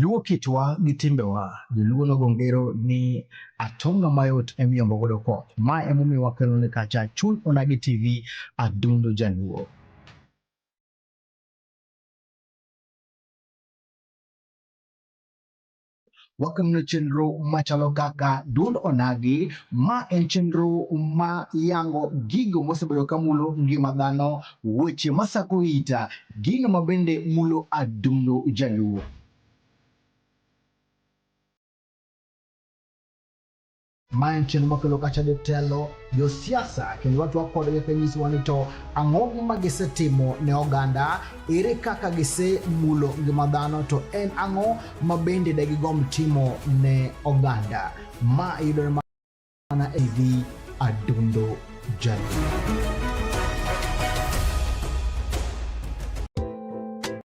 Luo kitwa gi timbewa, joluo nogo ngero ni atonga mayot emiyombo godo koth. Ma emomiyo wakelo ni kacha chuny onagi TV adundo jaluo. Wakano chenro machalo kaka duond onagi, ma en chenro ma yango gigo mosebedo ka mulo ngima dhano, weche masako ita, gino ma bende mulo adundo jaluo. Ma en chenro makelo kacha jotelo, josiasa kendo watwak kodgi kanyisowa ni to ang'o ma gisetimo ne oganda, ere kaka gisemulo ngima dhano, to en ang'o ma bende de gigomb timo ne oganda. Ma yudore mana e TV Adundo Jaluo.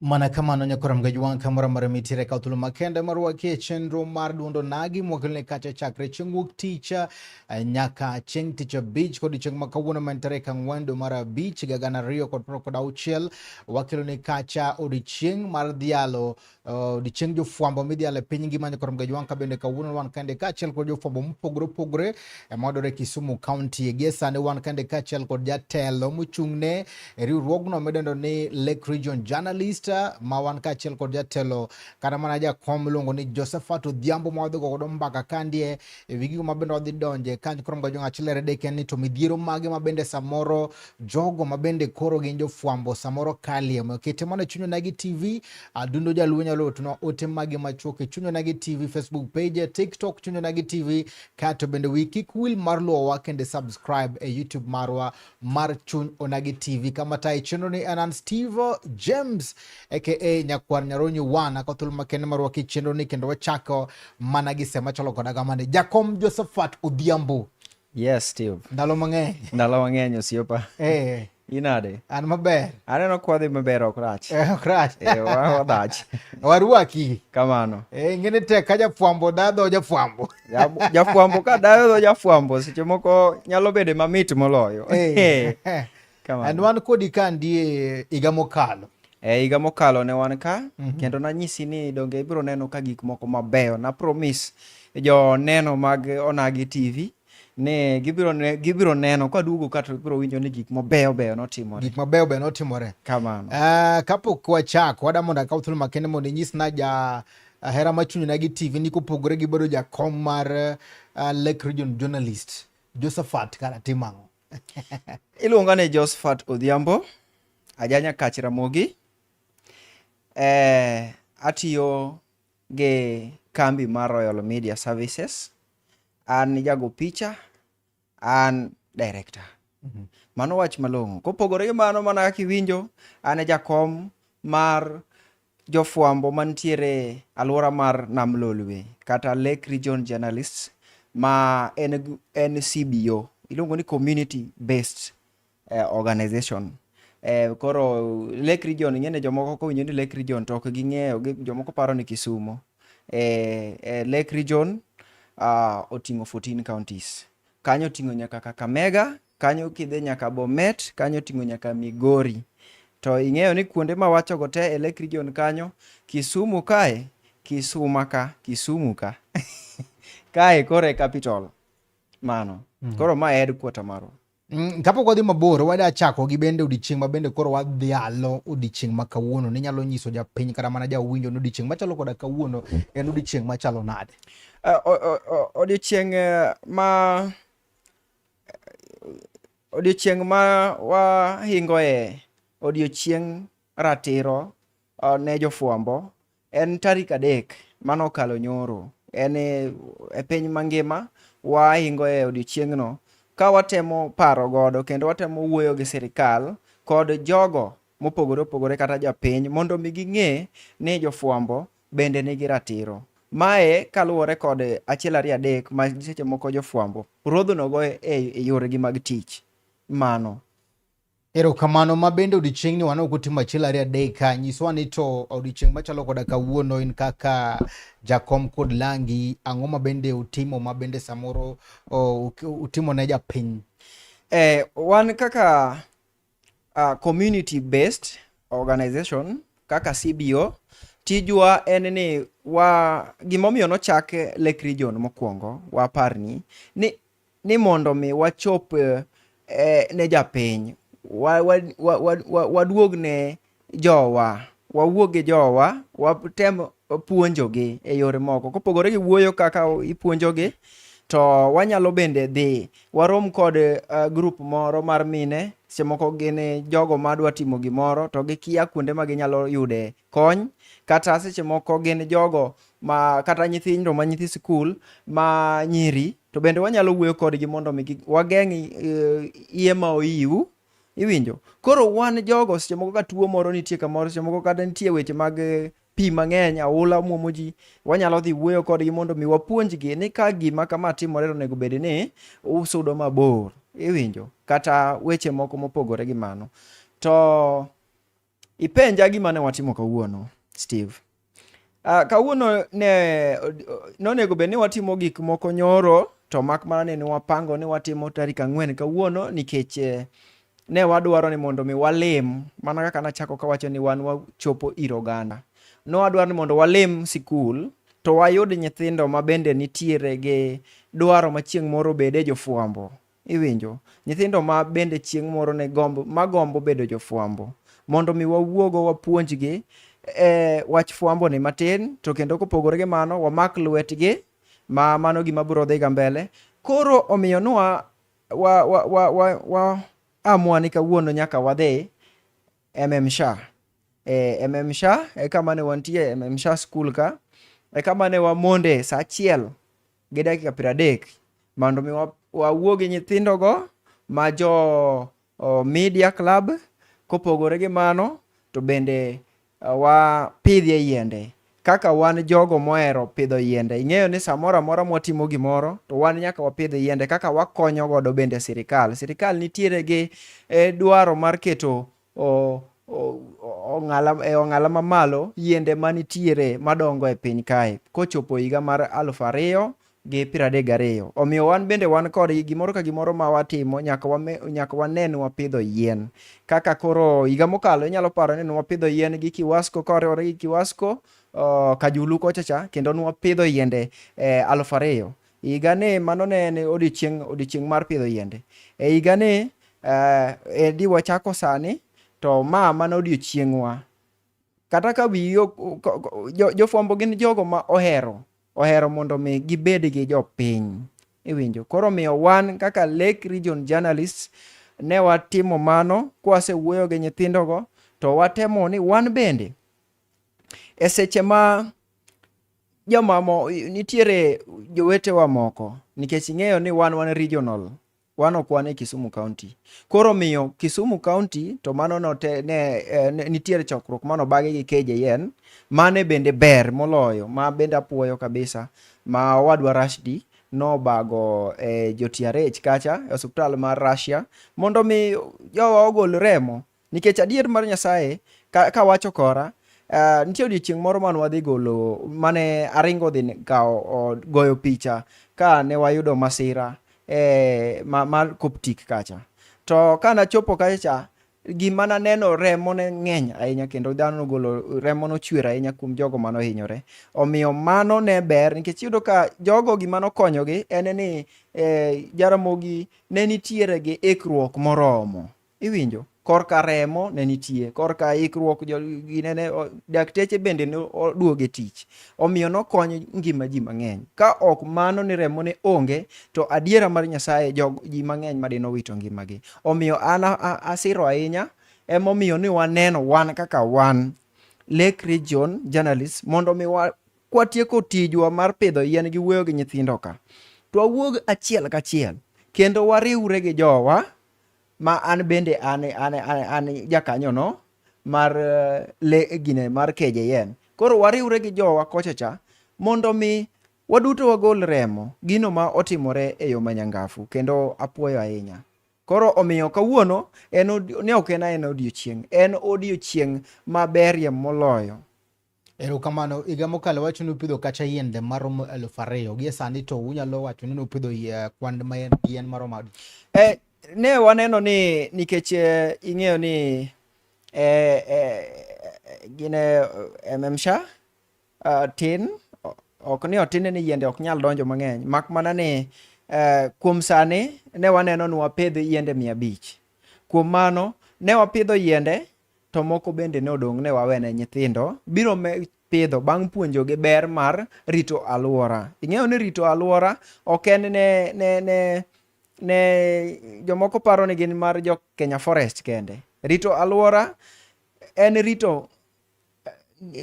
Mana kamano nyakoram gajwang' kamora mara mitire ka thuolo makende marwakie chenro mar duondo nagi mwakelne kacha chakre chieng' wuok tich eh, nyaka chieng' tich abich kod chieng' ma kawuono man tarik ang'wen dwe mar abich higa gana ariyo kod piero kod auchiel wakelone kacha odiechieng' mar dhialo eh, odiechieng' jofwambo midhialo e piny ngima nyakoram gajwang' ka bende kawuono wan kende kaachiel kod jofwambo mopogore opogore Emwadore Kisumu County Egesa ne wan kande kaachiel kod jatelo mochung'ne e riwruogno midendo ni Lake Region Journalist ma wan kaachiel kod jatelo kata mana jakom miluongo ni Josephat Odhiambo ma wadhi godo mbaka kandie e wi gigo ma bende wadhi donje kanyo koro mga jong'ach lere dek en ni to midhiero mage ma bende samoro jogo ma bende koro gin jofwambo samoro kalie omiyo kete mana e chuny onagi TV adundo jaluo nyalo otunwa ote mage machuok e chuny onagi TV Facebook page TikTok chuny onagi TV Kato bende wi kik wil mar luowa kende subscribe e YouTube marwa mar Chuny Onagi TV. Kama tayo chenro ni anan Steve James aka Nyakwar Nyaronyo One ako thuolo makende marwa ki chenro ni kendo wachako mana gi sema chalo koda kamane. Jakom Josephat Odhiambo. Yes, Steve. Ndalo mang'eny. Ndalo mang'eny osiepa. Eh. Inade? An maber. Aneno kwa dhi maber ok rach. Eh, ok rach. Eh, wadach. Warwaki. Kamano. Eh, ngene tek ka jafwambo dadho jafwambo. Jafwambo ka dadho jafwambo seche moko nyalo bede mamit moloyo. Eh. eh. Kamano. And wan kodi ka ndie iga mokalo. E higa mokalo ne wan ka mm -hmm. kendo nanyisi ni donge ibiro neno ka gik moko mabeyo na promise jo neno mag Onagi TV ne gibiro ne, gibiro neno ka duogo ka to biro winjo ni gik mabeyo beyo notimore gik mabeyo beyo notimore kamano uh, kapok wachako wada mondo akaw thuolo makende mondo inyis na ja uh, hera machunyo na gi tv ni kopogore gi bedo jakom mar uh, lake region journalist josephat kara timang'o iluonga ni josephat odhiambo ajanya kach ramogi eh, atiyo gi kambi mar Royal Media Services. An jago picha, an director. Mhm. Mano wach malong'o. Kopogore gi mano mana kaka iwinjo, an e jakom mar jofwambo mantiere alwora mar Nam Lolwe kata Lake Region Journalists ma en CBO. Iluongo ni Community Based eh, organization eh, koro Lake Region ing'e ni jomoko kowinjo ni Lake Region to ok ging'eyo gi- jomoko paro ni Kisumo eh, eh, Lake Region ah, oting'o 14 counties kanyo oting'o nyaka Kakamega kanyo kidhi nyaka Bomet kanyo oting'o nyaka Migori to ing'eyo ni kuonde ma wachogo te e Lake Region kanyo Kisumu kae Kisuma ka Kisumu ka kae koro e capital mano koro ma e headquarter marwa Mm, kapok wadhi mabor, wada chako gi bende odiechieng' ma bende koro wadhialo odiechieng' ma kawuono. Ninyalo nyiso japiny kata mana jawinjo ni odiechieng' machalo koda kawuono en odiechieng' machalo nade? Eh, odiechieng' eh, ma odiechieng' ma wahingoe odiechieng' ratiro eh, ne jofwambo En tarik adek mane okalo nyoro. En e, e piny mangima wahingo e odiechiengno ka watemo paro godo kendo watemo wuoyo gi sirikal kod jogo mopogore opogore kata jopiny mondo mi ging'e ni jofwambo bende nigi ratiro. Mae kaluwore kod achiel ariyo adek ma seche moko jofwambo rodhonogo e, e yoregi mag tich. Mano. Erokamano ma bende odiochieng'ni wan ok otimo achiel ariyo adek ka nyiswa ni to odiochieng' machalo koda kawuono in kaka jakom kod langi ang'o ma bende utimo ma bende samoro oh, utimo ne japiny eh, wan kaka uh, community based organization kaka CBO tijwa en ni wa gimomiyo nochak Lake Region mokwongo waparni ni ni mondo mi wachop eh, eh, ne japiny wa- wa- wa- wa- wa- waduog ne jowa wawuog gi jowa watem puonjogi e yore moko kopogore gi wuoyo kaka ipuonjogi to wanyalo bende dhi warom kod eh, grup moro mar mine seche moko gin eh, jogo madwa timo gimoro to gikia kuonde ma ginyalo yude kony kata seche moko gin jogo ma kata nyithindo ma nyithi sikul ma nyiri to bende wanyalo wuoyo kodgi mondo mi wageng' eh, iye ma oyiwu iwinjo koro wan jogo seche moko ka tuo moro nitie kamoro seche moko kata nitie weche mag eh, pi mang'eny aula mwomo ji wanyalo dhi wuoyo kodgi mondo mi wapuonjgi ni ka gima kama timore to onego bed ni usudo mabor iwinjo kata weche moko mopogore gi mano to Ipenja gima ne watimo kawuono, Steve. Uh, kawuono ne nonego bed ni watimo gik moko nyoro to mak mana ni ne wapango ni watimo tarik ang'wen kawuono nikech eh, ne wadwaro ni mondo mi walem mana kaka nachako kawacho ni wan wachopo ir oganda. Ne wadwaro ni mondo walem sikul to wayud nyithindo ma bende nitiere gi dwaro ma chieng' moro bede jofwambo. Iwinjo? Nyithindo ma bende chieng' moro ne gombo, ma gombo bedo jofwambo, mondo mi wawuogo wapuonjgi e wach fwambo ni matin, to kendo kopogore gi mano wamak lwetgi, ma mano gima biro dhi ga mbele. Koro omiyo nwa wa, wa, wa, wa, wa amua ni kawuono nyaka wadhi MMSHA. E, eh, MMSHA e kama ne wantie, MMSHA school ka, e kama ne wamonde sa achiel gi dakika piero adek mondo mi wawuo gi nyithindogo ma jo media club kopogore gi mano to bende wapidhie yiende kaka wan jogo mohero pidho yiende ing'eyo ni samoro amora mwatimo gimoro to wan nyaka wapidh yiende kaka wakonyo godo bende sirikal sirikal nitiere gi e, dwaro mar keto e ong'ala mamalo yiende manitiere madongo e piny kae kochopo higa mar aluf ariyo gi piero adek gariyo. Omiyo wan bende wan kodgi gimoro ka gimoro ma watimo nyaka wame, nyaka wane ni wapidho yien. Kaka koro higa mokalo inyalo paro ni nwapidho yien gi Kiwasko ka wariwore gi Kiwasko uh, Kajulu kochacha kendo nwapidho yiende eh, aluf ariyo E higani, mano ne en odiechieng' odiechieng' mar pidho yiende. E higani, eh, e di wachako sani, to ma mana odiechieng'wa. Kata ka wiyi ok- ko- ko- jo- jofwambo gin jogo ma ohero, ohero mondo mi gibed gi jopiny. Iwinjo? Koro miyo wan kaka Lake Region Journalists ne watimo mano kwasewuoyo gi nyithindogo to watemo ni wan bende e seche ma jomamo nitiere jowetewa moko nikech ing'eyo ni wan wan regional wan ok wan e Kisumu County. Koro miyo Kisumu County to mano note, ne, eh, ne, nitiere chokruok mano bage gi KJN mane bende ber moloyo ma bende apuoyo kabisa ma owadwa Rashdi nobago e eh, jo TRH kacha e osiptal mar Russia mondo mi jowa ogol remo Nikech adier mar Nyasaye ka, ka wacho kora uh, nitie odiochieng' moro mane wadhi golo mane aringo dhi kawo goyo picha ka ne wayudo masira eh, ma, mar Coptic kacha. To ka nachopo kacha gima naneno remo ne ng'eny ahinya kendo dhano nogolo remo nochwer ahinya kuom jogo mano hinyore omiyo mano ne ber nikech iyudo ka jogo gima nokonyogi en ni eh, jaramogi ne nitiere gi ikruok moromo Iwinjo? Korka remo ne nitie, korka ikruok ginene, dakteche bende ne oduoge tich. Omiyo nokonyo ngima ji mang'eny. Ka ok mano ni remo ne onge, to adiera mar Nyasaye jog, ji mang'eny madino owito ngimagi. Omiyo an asiro ahinya emomiyo ni waneno wan kaka wan Lake Region Journalists mondo mi kwatieko tijwa mar pidho yien gi wuoyo gi nyithindo ka to wawuog achiel kachiel kendo wariwre gi jowa ma an bende an, an, an, an jakanyono mar eh, le gine mar KJN. Koro wariwre gi jowa kocha cha mondo mi waduto wagol remo gino ma otimore e yo manyangafu kendo apuoyo ahinya. Koro omiyo kawuono en ne ok en en odiochieng', en odiochieng' maberie moloyo Erokamano. Higa mokalo wacho ni upidho kacha yiende maromo elfu ariyo. Gie sani to unyalo wacho ni upidho eh, kwan ma yien maromo adi? Eh, ne waneno ni nikech eh, ing'eyo ni eh, eh, gine eh, MMSHA uh, tin ok ni otine ni yiende ok nyal donjo mang'eny mak mana ni uh, kuom sani ne waneno ni wapidh yiende mia abich kuom mano ne wapidho yiende to moko bende ne odong' ne wawene nyithindo biro pidho bang' puonjogi ber mar rito alwora. Ing'eyo ni rito alwora ok en ne, ne, ne, ne jomoko paro ni gin mar jo Kenya Forest kende. Rito alwora en rito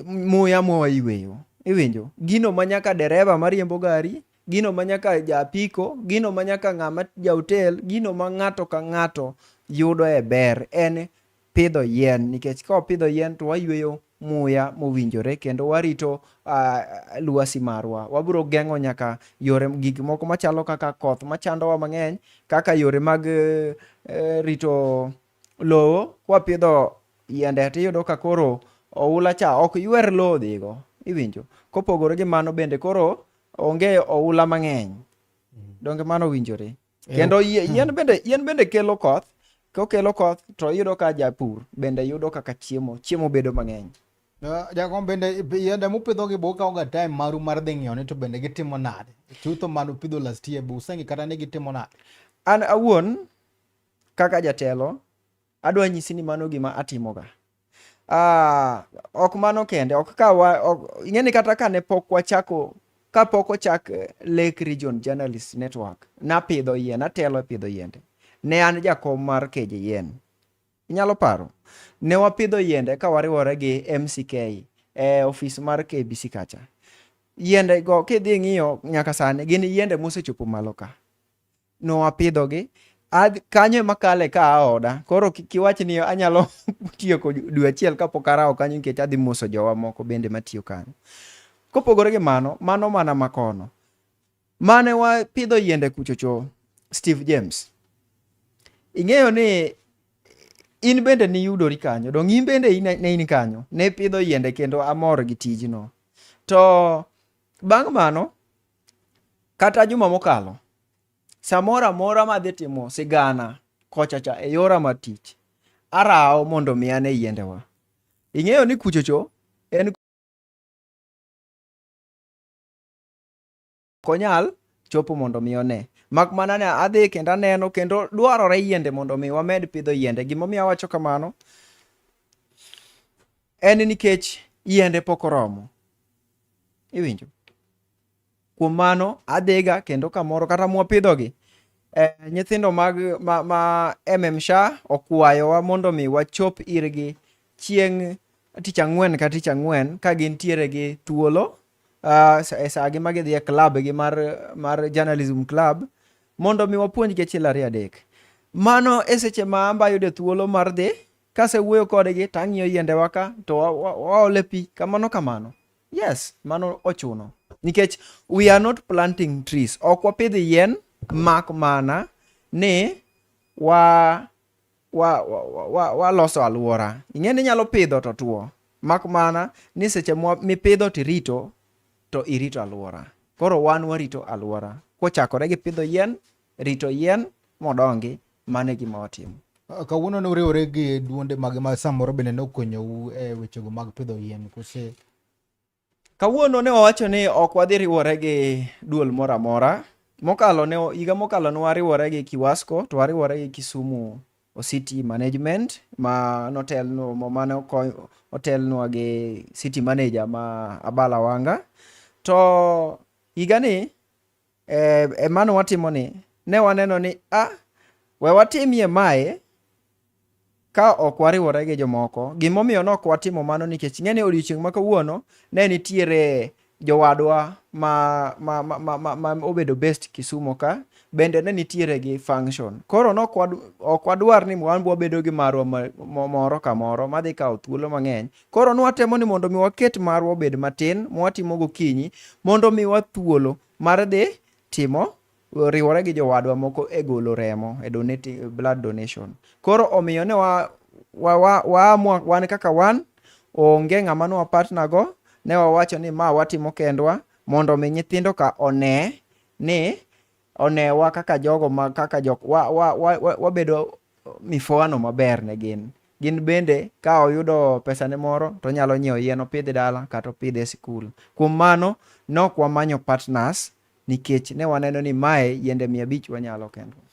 muya mwawayweyo iwinjo gino ma nyaka dereva mariembo gari gino ma nyaka japiko gino ma nyaka ng'ama jaotel gino ma ng'ato ka ng'ato yudo e ber en pidho yien nikech ka wapidho yien to wayweyo muya mowinjore kendo warito uh, luasi marwa wabiro geng'o nyaka yore gik moko machalo kaka koth machandowa mang'eny kaka yore mag uh, rito lowo kwapidho yiende to iyudo ka koro oula cha ok ywer lowo dhigo iwinjo kopogore gi mano bende koro onge oula mang'eny donge mano owinjore kendo yien bende yien bende kelo koth kokelo koth to iyudo ka japur bende yudo kaka chiemo chiemo bedo mang'eny jakom bende yiende mupidho gi boka oga time maru mar dhi ng'iyo ni to bende gitimo nade chutho manu pidho last year be useng'i kata ni gitimo nade an awuon kaka jatelo, adwa nyisi ni mano gima atimoga. Ah, ok mano kende, ok ka wa, ok, ing'eni kata ka ne pok wachako ka pok ochak eh, Lake Region Journalist Network, napidho yien, natelo e pidho yiende. Ne an jakom mar keje yien. Inyalo paro? Ne wapidho yiende ka wariwore gi MCK e eh, ofis mar KBC kacha. Yiende go kidhi ng'iyo nyaka sani gin yiende mosechopo malo ka. nowapidhogi kanyo ema kale ka aoda koro kik iwach ni anyalo tiyo dwe achiel kapok arawo kanyo nikech adhi moso jowa moko bende matiyo kanyo kopogore gi mano mano mana makono mane wapidho yiende kuchocho steve james ing'eyo ni in bende niyudori kanyo dong in bende ne in kanyo ne pidho yiende kendo amor gi tijno to bang' mano Kata juma mokalo, samoro amora madhi timo sigana kochacha e yora mar tich, arawo mondo mi ane yiendewa. Ing'eyo ni kuchocho en konyal chopo mondo mi one. Mak mana ni adhi kendo aneno kendo dwarore yiende mondo mi wamed pidho yiende. Gimomiyo awacho kamano en nikech yiende pok oromo. Iwinjo? Kuom mano adhiga kendo kamoro kata mwapidhogi eh, nyithindo mag ma, ma MMSHA okwayowa mondo mi wachop irgi chieng' tich ang'wen ka tich ang'wen ka gintiere gi thuolo uh, e sagi ma gidhi e club gi mar, mar journalism club mondo mi wapuonjgi achiel ariyo adek mano e seche ma amba yude thuolo mar dhi Kasewuoyo kodgi to ang'iyo yiendewa ka to waole pi kamano kamano. Yes, mano ochuno. Nikech we are not planting trees. Ok wapidh yien mak mana ni wa wa wa waloso wa alwora. Ing'e ni inyalo pidho to tuo. Mak mana ni seche mipidho to irito to irito alwora. Koro wan warito alwora. Kochakore gi pidho yien rito yien modongi mane gima watimo ah, kawuono ne uriwore gi duonde mag ma samoro bende ne okonyowu e wechego mag pidho yien kose kawuono ne wawacho ni ok wadhi riwore gi duol moro amora mokalo ne higa mokalo ne wariwore gi kiwasko to wariwore gi kisumu city management ma notelno mane otelnwa gi city manager ma abala wanga to higani E, e mano watimo ni ne waneno ni a ah, we watimie mae ka ok wariwore gi jomoko. Gimomiyo ne ok watimo mano nikech ing'e ni odiechieng' ma kawuono ne nitiere jowadwa ma, ma, ma, ma, ma, ma obedo best Kisumo ka bende ne nitiere gi function. Koro ne ok wadwar ni wan wabedo gi marwa moro ka moro madhi kawo thuolo mang'eny Koro nwatemo ni mondo mi waket marwa obed matin mwatimo gokinyi mondo mi wa thuolo mar dhi timo riwore gi jowadwa moko e golo remo e donate, blood donation. Koro omiyo ne wa, wa, wa, wa, wa wan kaka wan onge ng'ama ne wapatna go ne wawacho ni ma watimo kendwa mondo mi nyithindo ka one ni onewa kaka jogo ma kaka jok wa, wa, wa, wa, wabedo mifowano maber ne gin gin bende ka oyudo pesane moro to onyalo nyiewo yien opidh dala kata opidh e sikul kuom mano nok wamanyo partners nikech ne waneno ni mae yiende mia abich wanyalo kendwa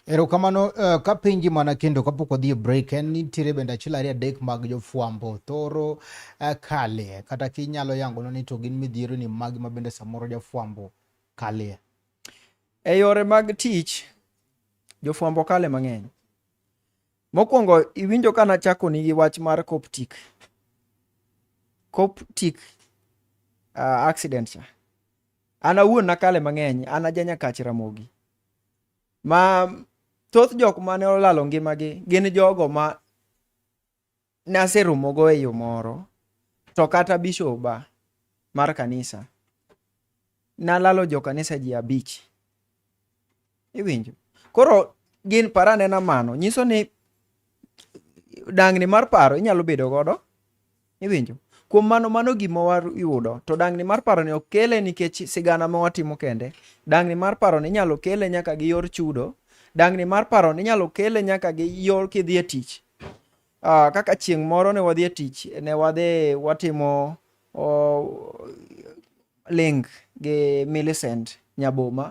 erokamano uh, eh, ka penji mana kendo kapok wadhi e break en nitiere bende achiel ariyo adek mag jofwambo thoro uh, kale kata kinyalo yangonwa ni to gin midhiero ni magi ma bende samoro jafwambo kalie E yore mag tich, jofwambo kale mang'eny. Mokwongo iwinjo ka nachakoni gi wach mar Coptic. Coptic uh, accident cha. An awuon nakale mang'eny, an aja Nyakach Ramogi. Ma thoth jok mane olalo ngimagi gin jogo ma naseromogo e yo moro to kata bishoba mar kanisa nalalo jo kanisa ji abich iwinjo koro gin parane na mano nyiso ni dangni mar paro inyalo bedo godo iwinjo kuom mano mano gima wayudo to dangni mar paro ni ok kele nikech sigana ma watimo kende dangni mar paro ni inyalo kele nyaka gi yor chudo dangni mar paro ni inyalo kele nyaka gi yor kidhi e tich Uh, kaka chieng' moro ne wadhi e tich ne wadhi watimo uh, link gi Millicent Nyaboma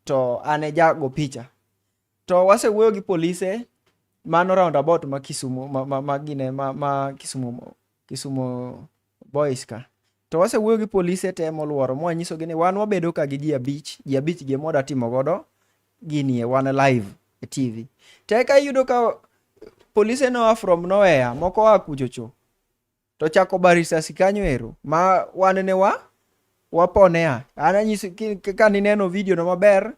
to an e jago picha to wasewuoyo gi polise mano roundabout ma Kisumo ma, ma, ma, gine, ma, ma Kisumo Kisumo boys ka to wasewuoyo gi polise te moluoro mwanyisogi ni wan wabedo ka gi ji abich ji abich gi emwada timo godo ginie wan live e tv to eka iyudo ka polise noa from nowhere moko oa kuchocho to chako ba risasi kanyo ero ma wan ne wa waponea an anyiso ki- ki- ka nineno video no maber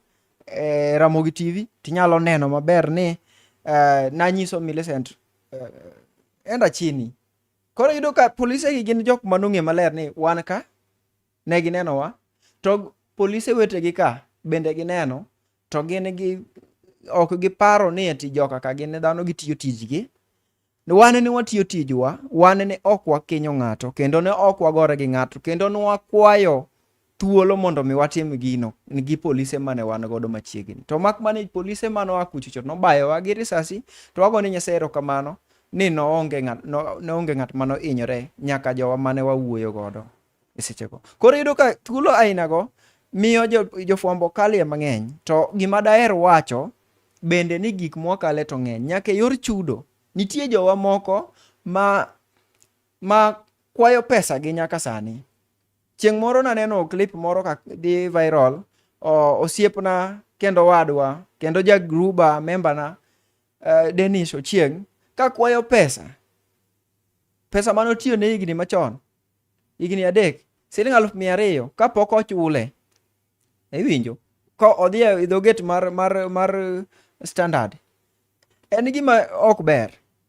eh, ramogi tv tinyalo neno maber ni eh, nanyiso millicent eh, enda chini Koro yudo ka polise gi gin jok ma nong'e maler ni wan ka ne ginenowa to polise wetegi ka bende gineno to gin gi ok giparo ni ati joka ka gin dhano gitiyo tijgi wane ne watiyo tijwa wane ne ok wakinyo ng'ato kendo ne ok wagore gi ng'ato kendo ne wakwayo thuolo mondo mi watim gino gi polise mane wan godo machiegni to mak mane polise mane oa kuchocho nobayowa gi risasi to wago ni nyasaye erokamano ni noonge ng'at no, noonge ng'at mano inyore nyaka jowa mane wawuoyo godo e sechego koro yudo ka thuolo ainago miyo jofwambo jo kalie mang'eny to gima daher wacho bende ni gik mwakale to ng'eny nyaka e yor chudo nitie jowa moko ma ma kwayo pesa gi nyaka sani Chieng' moro naneno clip moro ka dhi viral, osiepna kendo wadwa kendo ja gruba membana uh, eh, Dennis Ochieng' ka kwayo pesa pesa mane otiyo ne higni machon higni adek siling aluf mia ariyo kapok ochule iwinjo ka odhi e idho gate mar mar mar standard en gima ok ber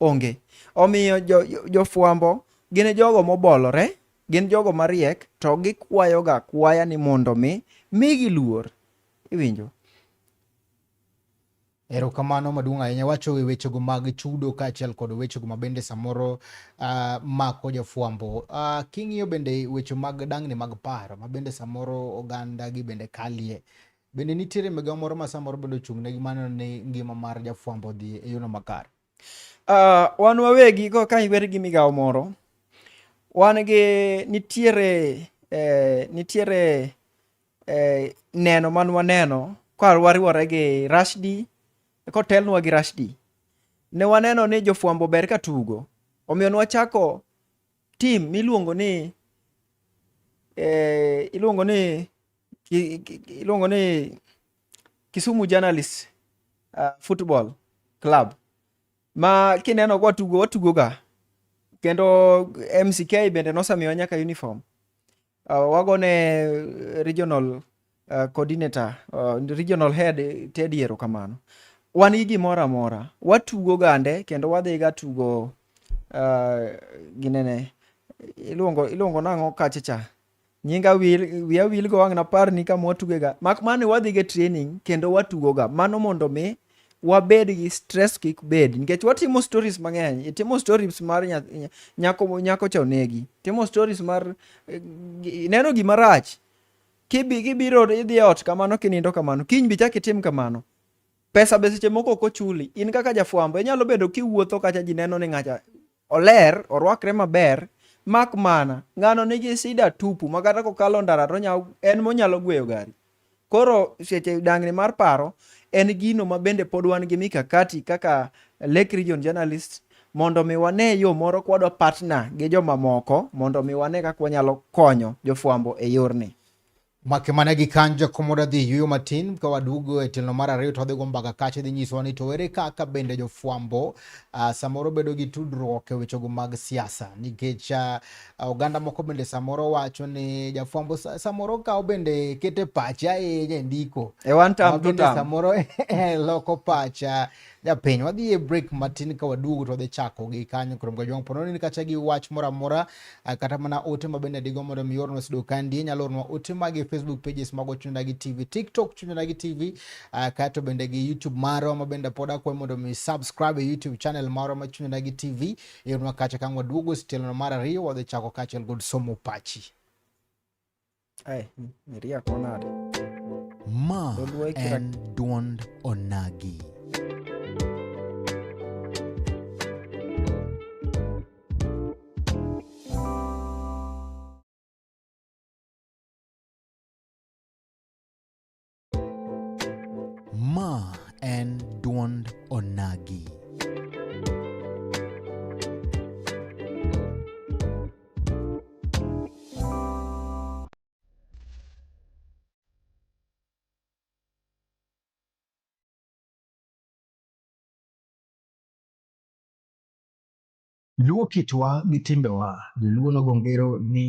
Onge. Omiyo jofwambo jo gin e jogo mobolore, gin jogo mariek, to gikwayoga kwaya ni mondo mi migi luor. Iwinjo? Erokamano maduong' ahinya. Wacho e wechego mag chudo kaachiel kod wechego ma bende samoro uh, mako jofwambo. Uh, king'iyo bende weche mag dang'ni mag paro ma bende samoro oganda gi bende kalie Bende nitiere migawo moro ma samoro bende ochung'negi maneno ni ngima mar jafwambo odhi e yono makare? Uh, wan wawegi go ka iwer gi migawo moro wan gi nitiere eh, nitiere eh, neno man waneno ka wariwore gi Rashdi kotelnwa gi Rashdi ne waneno ni jofwambo ber ka tugo omiyo nwachako tim miluongo ni eh, iluongo ni iluongo ni Kisumu Journalist uh, Football Club ma kineno kwa tugo watugoga kendo MCK bende nosemiwa nyaka uniform Uh, wagone eh, regional uh, coordinator uh, regional head Teddy erokamano. Wan gi gimoro amora, watugo gande kendo wadhiga tugo uh, ginene iluongo iluongo nang'o kacha cha nyinga wil wiya wil go wang' napar ni kama watugega mak mana ni wadhiga training kendo watugoga mano mondo mi wabed gi stress kik bed nikech watimo stories mang'eny itimo stories mar nyako nyako cha onegi timo stories mar eh, neno gima rach kibi kibiro idhi e ot kamano kinindo kamano kiny bi chak itim kamano pesa be seche moko ok ochuli in kaka jafwambo inyalo bedo kiwuotho kacha ji neno ni ng'acha Oler, orwakre maber, mak mana ng'ano nigi sida tupu ma kata kokalo ndara to en monyalo gweyo gari. Koro seche dang'ni mar paro en gino ma bende pod wan gi mikakati kaka Lake Region Journalist mondo mi wane yo moro kwadwa partner gi jomamoko mondo mi wane kaka wanyalo konyo jofwambo e yorni. Make mane gi kanjo komo da dhi yuyo matin ka wadugo e tilno mar ariyo to wadhi go mbaka kache dhi nyisowa ni to ere kaka bende jofwambo uh, samoro bedo gi tudruok e wechego mag siasa nikech uh, oganda moko bende samoro wacho ni jafwambo samoro kawo bende kete pache ahinya e ndiko e one time to time samoro e loko pacha japiny wadhi e break matin ka waduogo to wadhi chako gi kanyo kurom ga jwang' pono ni kacha gi wach moro amora eh, kata mana ote ma bende digo mondo mi ornwa sido kandi nyalo ornwa ote mag e facebook pages mago chunyna gi tv tiktok chunyna gi tv eh, kato bende gi youtube maro ma bende pod akwayo mondo mi subscribe e youtube channel maro ma chunyna gi tv yornwa kacha kang' waduogo sitelono mar ariyo wadhi chako kachiel kod somo pachi Ai, iriako nade? Ma Dholuo ikira- en duond onagi. Ma en dwond onagi. Luo kitwa gi timbewa, joluo nogo ngero ni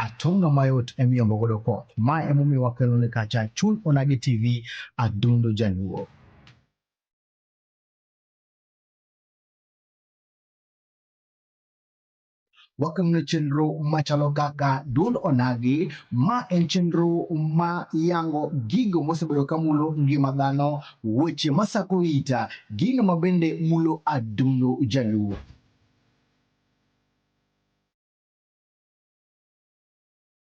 atonga mayot emiyombo godo koth. Ma emomiyo wakelo ni kacha chuny onagi TV adundo jaluo. wakelone chenro machalo kaka Duond Onagi. Ma en chenro ma yango gigo mosebedo kamulo ngima dhano Weche masako ita, gino mabende mulo adundo jaluo.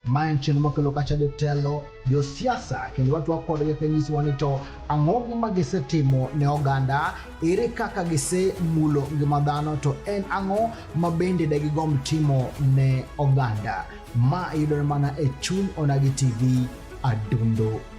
Ma en chenro makelo kacha jotelo, josiasa kendo watwak kodgi kanyisowa ni to ang'o ma gisetimo ne oganda, ere kaka gisemulo ngima dhano to en ang'o ma bende de gigomb timo ne oganda. Ma yudore mana e chuny Onagi TV Adundo.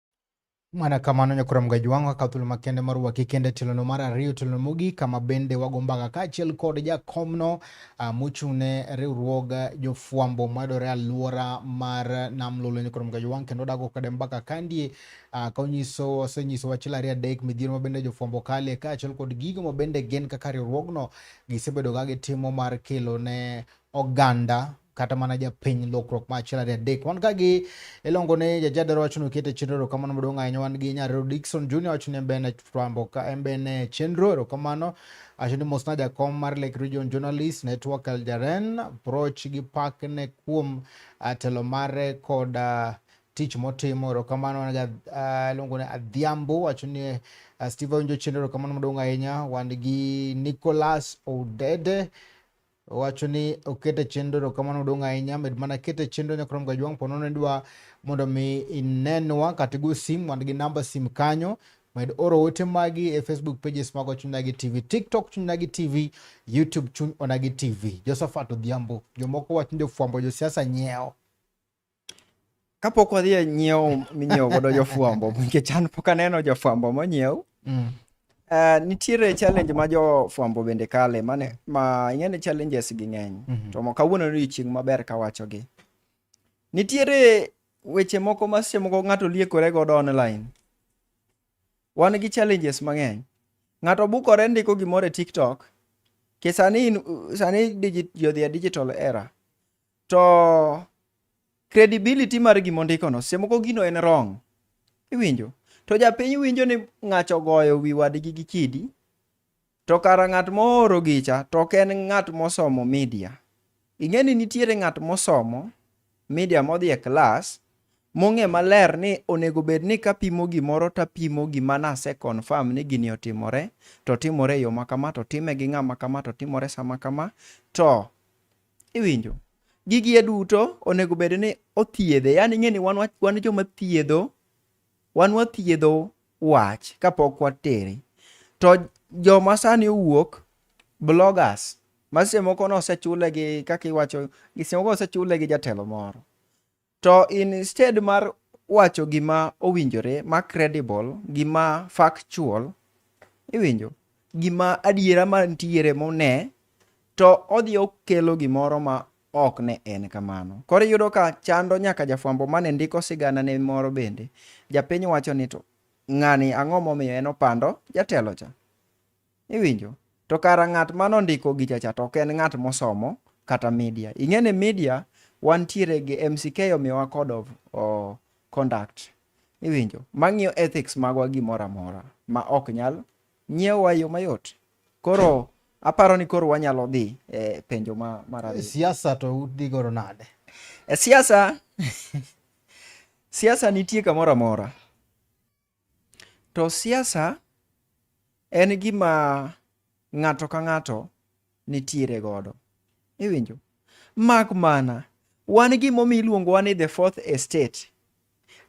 Mana kamano Nyakwar Mga Jwang' okawo thuolo makende mar rwaki kendo e tilono mar ariyo, tilono mogik kama bende wago mbaka kaachiel kod jakomno ah, mochung' ne riwruog jofwambo madore alwora mar Nam Lolwe Nyakwar Mga Jwang' kendo odago kode mbaka kandie ah, ka onyiso osenyiso wachila ariyo adek midhiero mabende jofwambo kalie kaachiel kod gigo mabende gin kaka riwruogno gisebedo ka gitimo mar kelo ne oganda kata mana japiny lokruok ma achiel ariyo adek wan ka gi ilongo ne jajadero wacho ni okete chenro erokamano maduong' ahinya wan gi nyarero Dickson Junior wacho ni embene fwambo ka embene chenro erokamano wacho ni mosna jakom mar Lake Region Journalist Network Aljaren Proch gi pak ne kuom ah, telo mare kod uh, tich motimo erokamano ah, iluongo ne Adhiambo wacho ni uh, Steve Awinjo chenro erokamano maduong' ahinya wan gi Nicholas Odede owacho ni okete chenro to kamano odong' ahinya med mana kete chenro nyakrom ga jwang' pono ne dwa mondo mi inenwa kata go sim wan gi namba sim kanyo med oro ote magi e facebook pages mago chuny nagi tv tiktok chuny nagi tv youtube chuny onagi tv josephat odhiambo jomoko wacho ni jofwambo josiasa nyiewo kapok wadhi e nyiewo minyiewo godo jofwambo nikech an pok aneno jofwambo monyiew mm. Uh, nitiere challenge ma jofwambo bende kale mane ma ing'e ni challenges gi ng'eny mm -hmm. to kawuono ni chieng' maber kawachogi nitiere weche moko ma seche moko ng'ato liekore godo online wan gi challenges mang'eny ng'ato bukore ndiko gimoro e tiktok ke sani sani jodhi e digital era to credibility mar gima ondikono seche moko gino en wrong iwinjo to japiny winjo ni ng'acho ogoyo wi wadgi gi kidi to kara ng'at mooro gicha to ok en ng'at mosomo media ing'e ni nitiere ng'at mosomo media modhi e klas mong'e maler ni onego bed ni kapimo gimoro tapimo gima nase confirm ni gini otimore to timore e yo makama to time gi ng'ama kama to timore sama kama to Iwinjo? Gigi e duto onego bed ni othiedhe. Yani ing'e ni wan, wan joma thiedho, wan wathiedho wach kapok watere. To joma sani owuok, bloggers, ma seche moko nosechule gi kaka iwacho, seche moko osechule gi jatelo moro. To instead mar wacho gima owinjore ma credible, gima factual, iwinjo, gima adiera ma nitiere mone, to odhi okelo gimoro ma ok ne en kamano. Koro iyudo ka chando nyaka jafwambo mane ndiko sigana ne moro bende. Japiny wacho ni to ng'ani ang'o momiyo en opando jatelo cha. Iwinjo? To kara ng'at ma nondiko gichacha to ok en ng'at mosomo kata media. Ing'e ni media wantiere gi MCK omiyowa code of oh, conduct. Iwinjo? Mang'iyo ethics magwa gimoro amora ma ok nyal nyiewa yo mayot. Koro aparo ni koro wanyalo dhi e penjo ma mar e siasa to udhi goro nade? E siasa siasa nitie kamoro amora. To siasa en gima ng'ato ka ng'ato nitiere godo. Iwinjo? Mak mana, wan gimomi iluongo wa ni the fourth estate.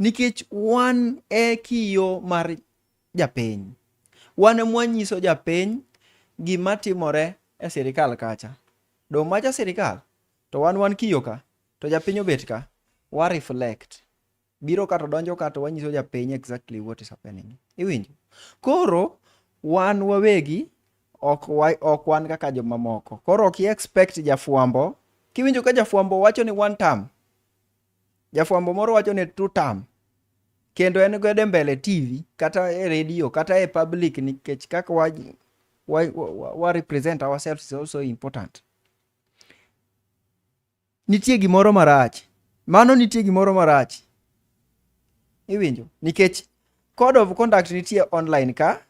Nikech wan e kiyo mar japiny. Wan e mwanyiso japiny gima timore e sirikal kacha. Do macha sirikal, to wan wan kiyo ka, to japiny obet ka, wa reflect. biro kato donjo kato wanyiso japiny exactly what is happening iwinjo koro wan wawegi ok, wa, ok wan kaka jomamoko koro ok expect jafwambo kiwinjo ka jafwambo wacho ni one term jafwambo moro wacho ni two term kendo en godo e mbele tv kata e radio kata e public nikech kaka wa, wa, wa, wa represent ourselves is also important Nitie gimoro marach. Mano nitie gimoro marach. Iwinjo? Nikech code of conduct nitie online ka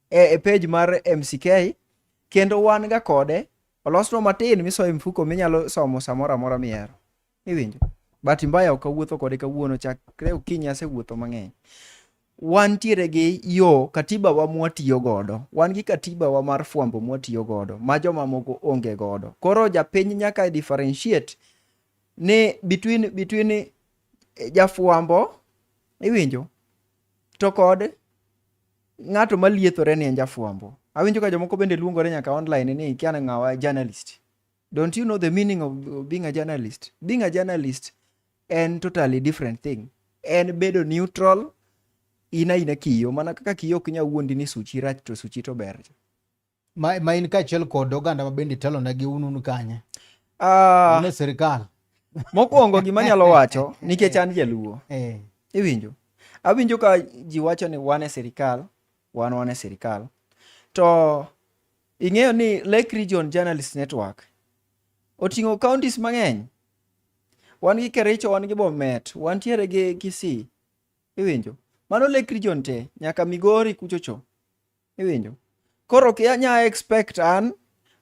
e, e page mar MCK kendo wan ga kode olosno matin misoyo mfuko minyalo somo samoro amora mihero. Iwinjo? Bahati mbaya ok awuotho kode kawuono chakre okinyi asewuotho mang'eny. wantiere gi yo katiba wa mwatiyo godo wan gi katiba wa mar fwambo mwatiyo godo ma jomamoko onge godo koro japiny nyaka differentiate ni between between eh, jafwambo iwinjo to kod ng'ato maliethore ni en jafwambo awinjo ka jomoko bende luongore nyaka online ni kiana ng'awa journalist Don't you know the meaning of being a journalist? Being a journalist en totally different thing. En bedo neutral ina ina kiyo mana kaka kiyo ok nyal wuondi ni suchi rach to suchi to ber. Ma, ma in kaachiel kod oganda ma bende itelo negi un un kanye? Ah, uh, sirikal. Mokwongo gima nyalo wacho nikech an jaluo. Eh. Iwinjo? Awinjo ka ji wacho ni wan e sirikal, wan wan e sirikal. To Ing'eyo ni Lake Region Journalist Network oting'o counties mang'eny. Wan gi Kericho, wan gi Bomet, wantiere gi Kisii. Iwinjo? Mano Lake Region te, nyaka Migori kuchocho. Iwinjo? Koro ok anya expect an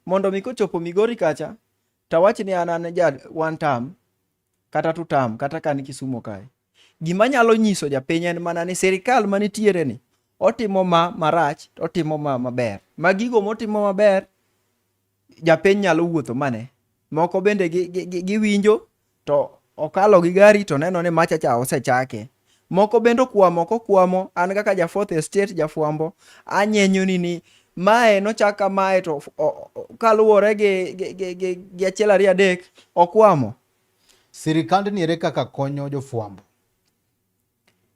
mondo mi kochopo Migori kacha tawach ni an an ja one term kata two term kata kan Kisumo kae. Gima nyalo nyiso japiny en mana ni sirikal ma nitiere ni otimo ma marach to otimo ma maber. Ma gigo motimo maber japiny nyalo wuotho mane. Moko bende giwinjo gi, gi, gi to okalo gi gari to neno ni machacha osechake. Moko bende okwamo kokwamo, an kaka ja fourth estate jafwambo, anyenyoni ni mae nochak kamae to kaluwore gi, gi, gi, gi, gi achiel ariyo adek okwamo. Sirikandni ere kaka konyo jofwambo?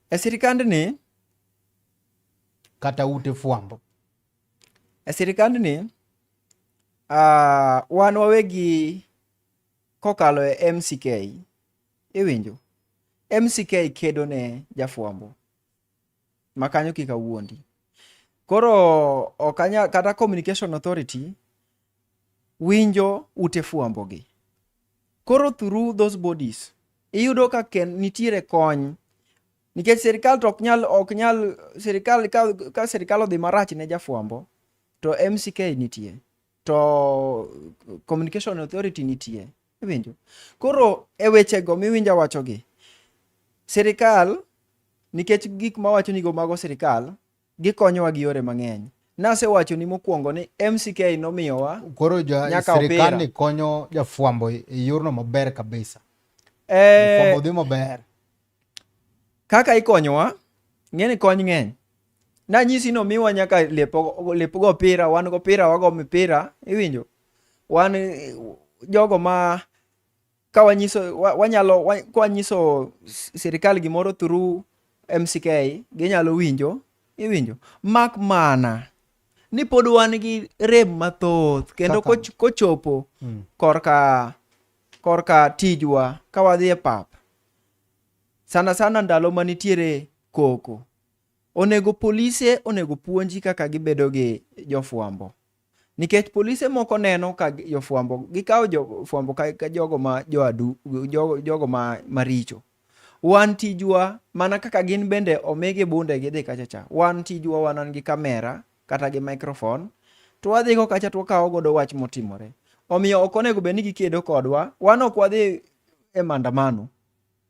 E sirikandni kata ute fwambo? E sirikandni uh, wan wawegi kokalo e MCK iwinjo, MCK kedo ne jafwambo ma kanyo kik awuondi. Koro ok anya kata Communication Authority winjo ute fwambo gi. Koro through those bodies iyudo ka ken nitiere kony nikech sirikal to ok nyal ok nyal sirikal ka, ka sirikal odhi marach ne jafwambo to MCK nitie. to communication authority nitie iwinjo koro e wechego miwinja wachogi sirikal nikech gik mawacho nigo mago sirikal gikonyowa gi yore mang'eny nasewacho ni mokwongo ni mck nomiyowa koro sirikal ni konyo jafwambo e yorno maber kabisa eh, jafwambo dhi maber Kaka ikonyowa, ng'eni kony ng'eny. Nanyisi ni omiwa nyaka lep, lep go opira, wan go opira, wago mipira, iwinjo? Wan jogo ma ka wanyiso wanyalo kwanyiso sirikal gimoro through MCK ginyalo winjo, iwinjo? Mak mana ni pod wan gi rem mathoth kendo kochopo hmm. korka korka tijwa ka wadhi e pap sana sana ndalo ma nitiere koko. Onego polise onego puonji kaka gibedo gi jofwambo. Nikech polise moko neno ka gi- jofwambo, gikawo jofwambo ka, ka jogo ma joadu, jogo, jogo ma maricho. Wan tijwa mana kaka gin bende omigi bunde gidhi kacha cha. Wan tijwa wan an gi kamera, kata gi microphone to wadhi go kacha to wakawo godo wach motimore. Omiyo ok onego bed ni gikedo kodwa, wan ok wadhi e maandamano.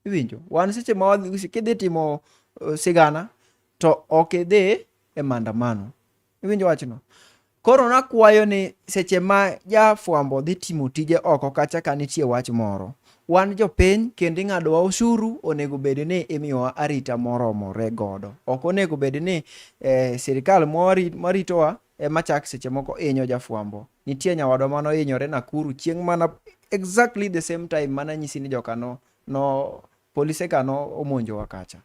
Iwinjo? Wan seche ma wadhi kidhi timo uh, sigana to ok idhi e maandamano. Iwinjo wachno? Koro nakwayo ni seche ma jafwambo dhi timo tije oko kacha ka nitie wach moro, Wan jopiny kendo ing'adowa osuru, onego bed ni imiyowa arita moromore godo. Ok onego bed ni eh, sirikal maritowa ema chak seche moko inyo jafwambo. Nitie nyawadwa mano inyore Nakuru chieng' mana exactly the same time mana nyisi ni joka no, no polise ka no omonjowa kacha.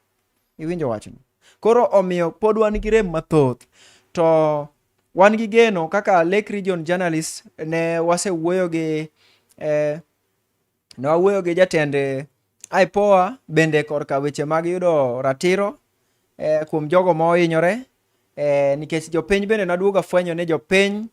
Iwinjo wachno? Koro omiyo pod wan gi rem mathoth to wan gi geno kaka Lake Region Journalist ne wasewuoyo gi eh, Ne wawuoyo gi jatend IPOA bende korka weche mag yudo ratiro eh, kuom jogo ma ohinyore eh, nikech jopiny bende naduoga fwenyo ni jopiny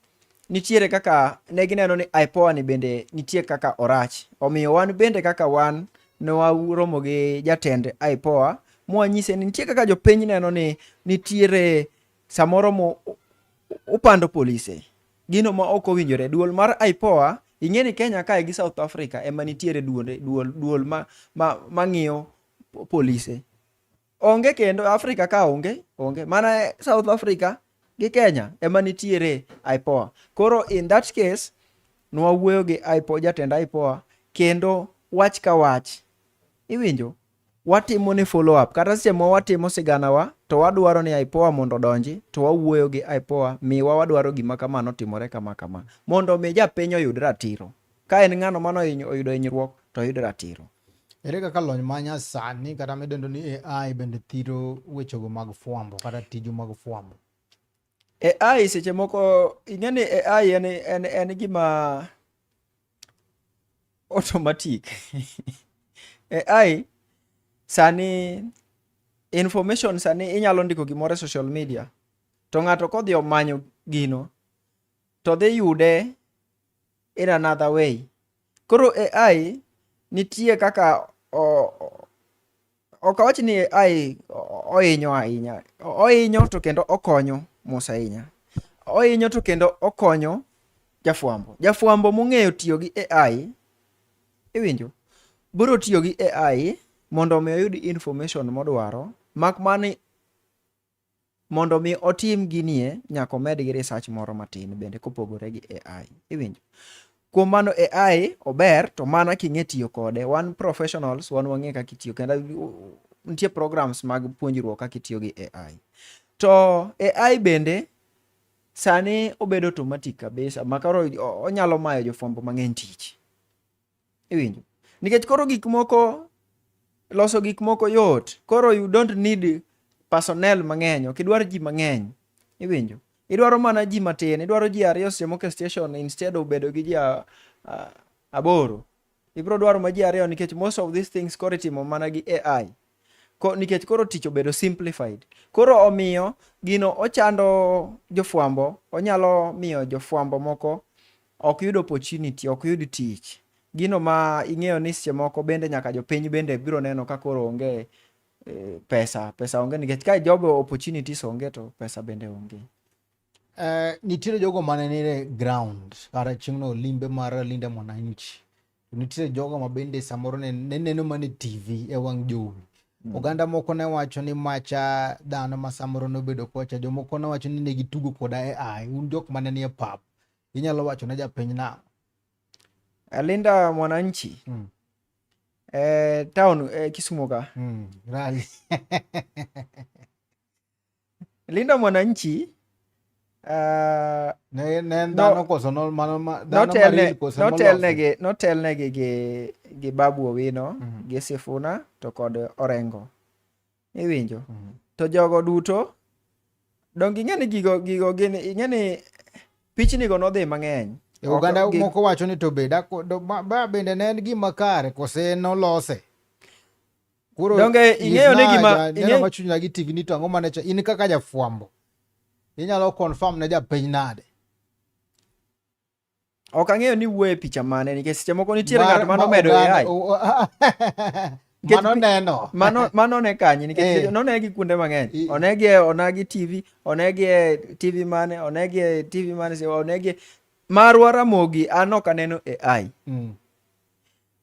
nitiere kaka ne gineno ni IPOA ni bende nitie kaka orach. Omiyo wan bende kaka wan ne waromo gi jatend IPOA mwanyise ni nitie kaka jopiny neno ni nitiere samoro mo upando polise Gino ma ok owinjore. Duol mar IPOA, ing'e ni Kenya kae gi South Africa ema nitiere duonde, duol, duol ma, ma, ma ng'iyo polise. Onge kendo, Africa ka onge, onge. Mana South Africa gi Kenya ema nitiere IPOA. Koro in that case, nwawuoyo gi IPOA, jatend IPOA, kendo wach ka wach. Iwinjo? watimo ne follow up kata seche ma watimo sigana wa to wadwaro ni IPOA mondo odonji to wawuoyo gi IPOA miwa wadwaro gima kama notimore kama kama mondo mi japiny oyud ratiro ka en ng'ano mano oyudo hinyruok to oyud ratiro ere kaka lony ma nyasani kata midendo ni AI bende thiro wechego mag fwambo kata tiju mag fwambo AI seche moko ing'e ni AI en, en, en gima automatic AI sani information sani inyalo ndiko gimoro e social media to ng'ato kodhi omanyo gino to dhi yude in another way koro AI nitie kaka o, ok awach ni ai ohinyo ahinya ohinyo to kendo okonyo mos ahinya ohinyo to kendo okonyo jafwambo jafwambo mong'eyo tiyo gi ai iwinjo biro tiyo gi ai mondo omi oyud information modwaro mak mani Mondo mi otim ginie nyaka omed gi research moro matin bende kopogore gi AI. Iwinjo? Kuom mano AI ober to mana king'e tiyo kode. Wan professionals wan wang'e kaka itiyo kendo nitie programs mag puonjruok kaka itiyo gi AI. To AI bende sani obedo automatic kabisa makaro onyalo mayo jofwambo mang'eny tich. iwinjo nikech koro gik moko loso gik moko yot koro you don't need personnel mang'eny ok idwar ji mang'eny iwinjo idwaro mana ji matin idwaro ji ariyo seche moko e station instead of bedo gi ji aboro ibiro dwaro ma ji ariyo nikech most of these things koro itimo mana gi ai Ko, nikech koro tich obedo simplified koro omiyo gino ochando jofwambo onyalo miyo jofwambo moko ok yud opportunity ok yud tich gino ma ing'eyo ni seche moko bende nyaka jopiny bende biro neno ka koro onge eh, pesa pesa onge nikech ka job opportunities onge to pesa bende onge Eh, nitiere jogo mane nire ground kata chieng'no limbe mar linda mwananchi to nitiere jogo ma bende samoro ne neno mana e TV e wang' jowi. Mm. Oganda moko ne wacho ni macha dhano ma samoro nobedo kocha, jomoko ne wacho ni ne gitugo koda e ai. Un jok mane nie pap, inyalo wacho ne japiny nang'o? Alinda Mwananchi mm. eh, town eh, Kisumu ka mm. Rally Linda Mwananchi uh, ne, ne no, koso no, mano, ma, notelne, koso notelne, gi, notelne gi, gi, gi Babu Owino mm -hmm. gi Sifuna to kod Orengo iwinjo mm -hmm. to jogo duto donk ing'e ni gigo gigo gin ing'e ni pichnigo nodhi mang'eny e oganda okay, moko wacho ni to be bende ne en gima kare kose nolose Koro donge ing'eyo ni gima neno machuny lagi TV ni to ang'o mane cha in kaka jafwambo inyalo confirm ne japiny nade ok ang'eyo ni wuoye picha mane nikech seche moko nitiere ng'at mano medo AI mano neno mano mano ne kanye nikech eh. none gi kuonde mang'eny onegi e onagi TV onegi e TV mane onegi e TV mane onegi e, marwa Ramogi an ok aneno AI mm.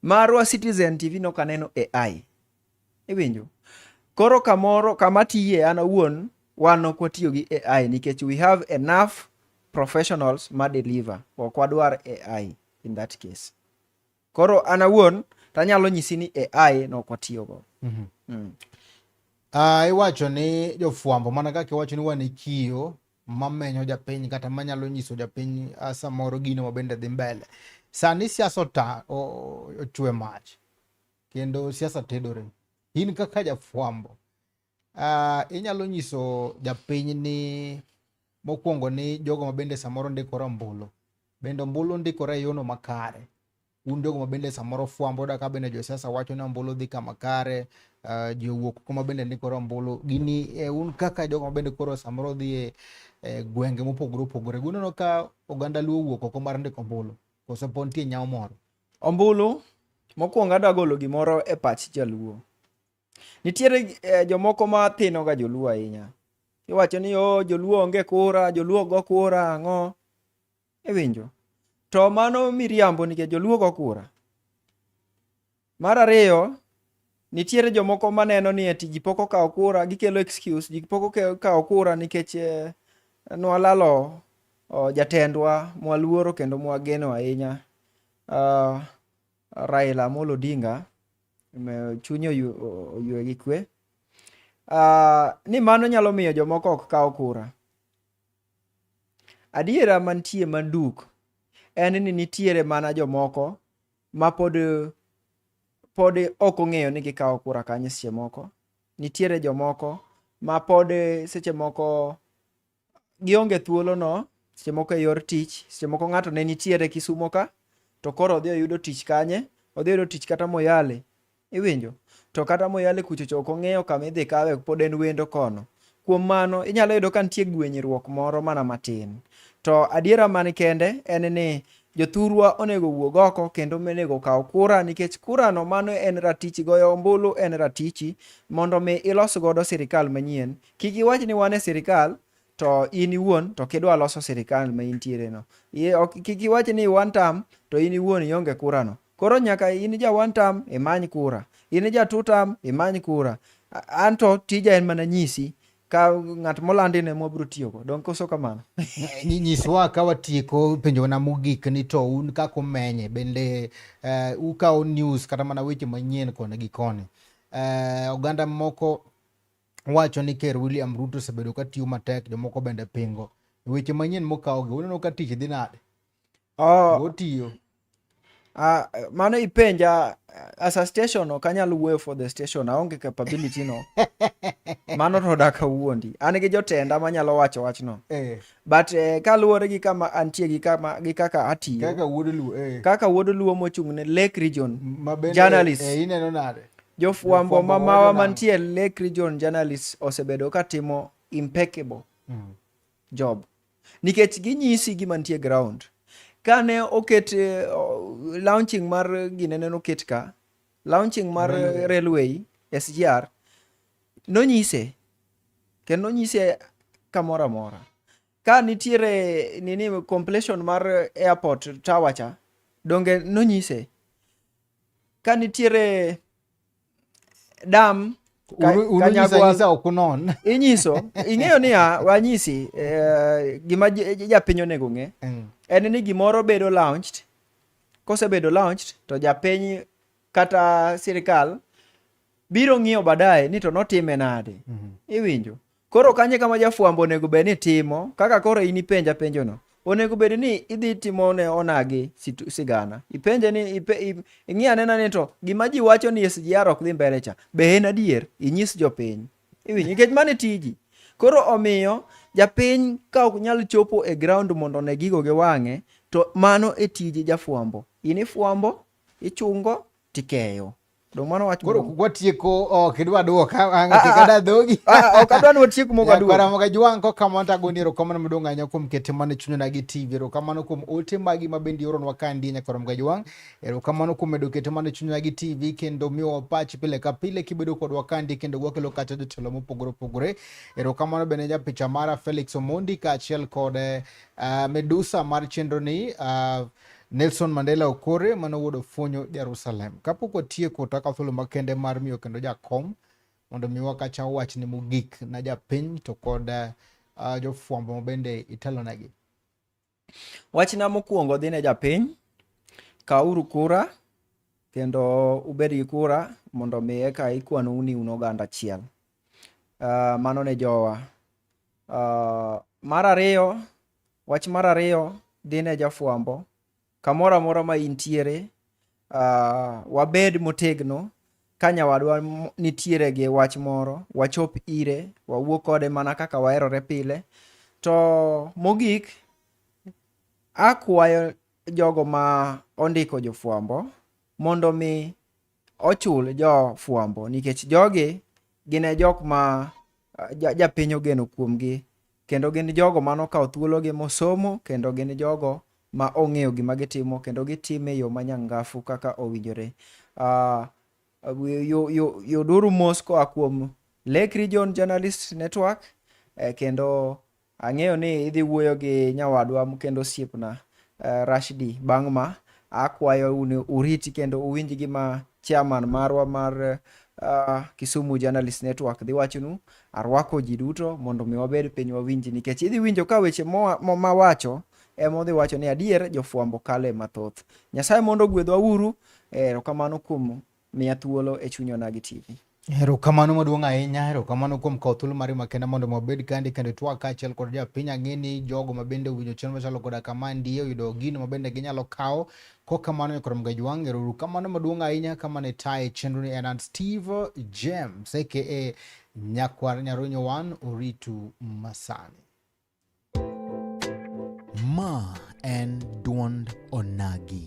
Marwa Citizen TV nok aneno AI. Iwinjo? Koro kamoro kama tiye an awuon wan ok watiyo gi AI nikech we have enough professionals ma deliver. Ok wadwar AI in that case. Koro an awuon tanyalo nyisi ni AI no ok watiyogo. Mm -hmm. mm. Uh, iwacho ni jofwambo mana kaka iwacho ni wan e kiyo mamenyo japiny kata manyalo nyiso japiny ah, samoro gino mabende dhi mbele. Sani siasa ota ochwe mach kendo siasa tedore. In kaka jafwambo uh, ah, inyalo nyiso japiny ni mokwongo ni jogo mabende samoro ndikore ombulu bende ombulu ndikore e yono makare un jogo ma bende samoro fwambo yuda ka bende josiasa wacho ni ombulu dhi kama kare uh, jowuok kuma bende ni koro ombulu gini eh, un kaka jogo ma bende koro samoro dhi e eh, gwenge mopogore opogore guneno ka oganda luo wuok oko mar ndiko ombulu koso po nitie nyawo moro ombulu mokwongo adwa golo gimoro e pach jaluo nitiere eh, jomoko ma thinoga joluo ahinya iwacho ni o oh, joluo onge kura joluo go kura ang'o Iwinjo? To mano miriambo nikech joluo go kura. Mar ariyo, nitiere jomoko maneno ni ati ji pok okawo kura, gikelo excuse, ji pok okawo kura nikech eh, nwalalo oh, jatendwa mwaluoro kendo mwageno ahinya uh, Raila Amolo Odinga chunye oyue gi kwe uh, ni mano nyalo miyo jomoko ok kaw kura Adiera mantie manduk en ni nitiere mana jomoko ma pod pod ok ong'eyo ni gikawo kura kanye seche moko. Nitiere jomoko ma pod seche moko gionge thuolono seche moko e yor tich, seche moko ng'ato ne nitiere Kisumo ka to koro odhi oyudo tich kanye, odhi oyudo tich kata Moyale Iwinjo? To kata moyale kuchocho ok ong'eyo kama idhi kawe pod en wendo kono. Kuom mano, inyalo yudo ka nitie gwenyruok moro mana matin. To adiera man kende en ni jothurwa onego wuog oko kendo onego kaw kura nikech kurano mano en ratichi goyo ombulu en ratichi mondo mi ilos godo sirikal manyien. Kik iwach ni wan e sirikal to in iwuon to kidwa loso sirikal ma intiere no kik iwach ni one term to in iwuon ionge kura no koro nyaka in ja one term imany kura in ja two term imany kura anto tija en mana nyisi ka ng'at molandi ne mwabiro tiyogo donk koso kamano nyiswa ka watieko penjo na mogik ni to un kaka umenye bende uh, ukawo news kata mana weche manyien koni gi koni uh, oganda moko wacho ni Ker William Ruto osebedo ka tiyo matek, jomoko bende pingo. Weche manyien mokawogi, uneno ka tich dhi nade? Oh, Otiyo. Uh, mano ipenja as a station ok anyal wuoyo for the station aonge capability no mano to dak awuondi an gi jotenda manyalo wacho wachno eh. but eh, kaluwore gi kama antie gi kama gi kaka atiyo kaka wuod luo eh. kaka wuod luo mochung' ne lake region journalist eh, ineno nade Jofwambo ma mawa mantie e Lake Region journalists osebedo ka timo impeccable mm. job nikech ginyisi gima nitie ground. Kane oket uh, launching mar ginene noket ka launching mar railway, railway SGR nonyise kendo nonyise kamoro amora ka nitiere nini completion mar airport tower cha donge nonyise ka nitiere dam inyiso ing'eyo niya wanyisi eh, gima japiny onego ng'e mm. en ni gimoro bedo launched kosebedo launched to japiny kata sirikal biro ng'iyo baadaye ni to notime nade mm-hmm. iwinjo Koro kanye kama jafwambo onego bed ni timo kaka koro in ipenja penjono onego bed ni idhi timo ne onagi sigana ipenje ni ipe, ing'i anena ni to gima ji wacho ni SGR ok dhi mbele cha be en adier inyis jopiny iwinj nikech mane tiji koro omiyo japiny ka ok nyal chopo e ground mondo ne gigo gi wang'e to mano e tiji jafwambo in ifwambo ichungo tikeyo Domano wach koro watieko ok idwa duoka ang' ah, kikada ah, ah. dhogi ok adwa ni watiek mogo adwa kwara moga jwang' ko kamano to agoni ero kamano madong' ahinya kuom kete mane chunyona gi TV ero kamano kuom ote magi ma bende ioronwa ka ndi nyakwara moga jwang' ero kamano kuom medo kete mane chunyona gi TV kendo miwa pach pile ka pile kibedo kodwa ka ndi kendo wakelo kata jotelo mopogore opogore ero kamano bende ja picha mara Felix Omondi kaachiel kod uh, Medusa mar chenro ni uh, Nelson Mandela Okore mane owuod Ofonyo Jerusalem. Kapok watieko to akawo thuolo makende mar miyo kendo jakom mondo mi wakacha wach ni mogik na japiny to kod uh, jofwambo mabende itelonegi. Wachna mokwongo dhi ne japiny, kawuru kura kendo ubed gi kura mondo mi eka ikwanu ni un oganda achiel. Uh, mano ne jowa. Uh, mar ariyo Wach mar ariyo, dhi ne jafwambo. Kamoro amora ma intiere, uh, wabed motegno ka nyawadwa nitiere gi wach moro, wachop ire, wawuo kode mana kaka waherore pile. To mogik, akwayo jogo ma ondiko jofwambo mondo mi ochul jofwambo nikech jogi gin e jok ma japiny ogeno kuomgi kendo gin jogo mano kawo thuologi mosomo kendo gin jogo ma ong'eyo gima gitimo kendo gitime yo ma nyangafu kaka owinjore uh, yuduru mos koa kuom Lake Region Journalist Network eh, kendo Ang'eyo ni idhi wuoyo gi nyawadwa kendo osiepna eh, Rashidi bang' ma akwayo ni uriti kendo uwinj gima chairman marwa mar uh, Kisumu Journalist Network dhi wachonu. Arwako ji duto mondo mi wabed piny wawinji nikech idhi winjo ka weche mawacho ema odhi wacho ni adier jofwambo kale mathoth. Nyasaye mondo ogwedhwa uru, eh, erokamano kuom Miya thuolo e chuny onagi TV. Erokamano maduong' ahinya, erokamano kuom kawo thuolo mari makenda mondo wabed kandi kendo itwak kaachiel kod japiny. Ang'e ni jogo mabende owinjo chenro machalo koda kama ndiye oyudo gino mabende ginyalo kawo. Kok kamano Nyakwar Mgajwang', erokamano maduong' ahinya. Kama ne taye chenroni en an Steve James aka Nyakwar Nyarunyo One, oritu masani. Ma en dwond onagi.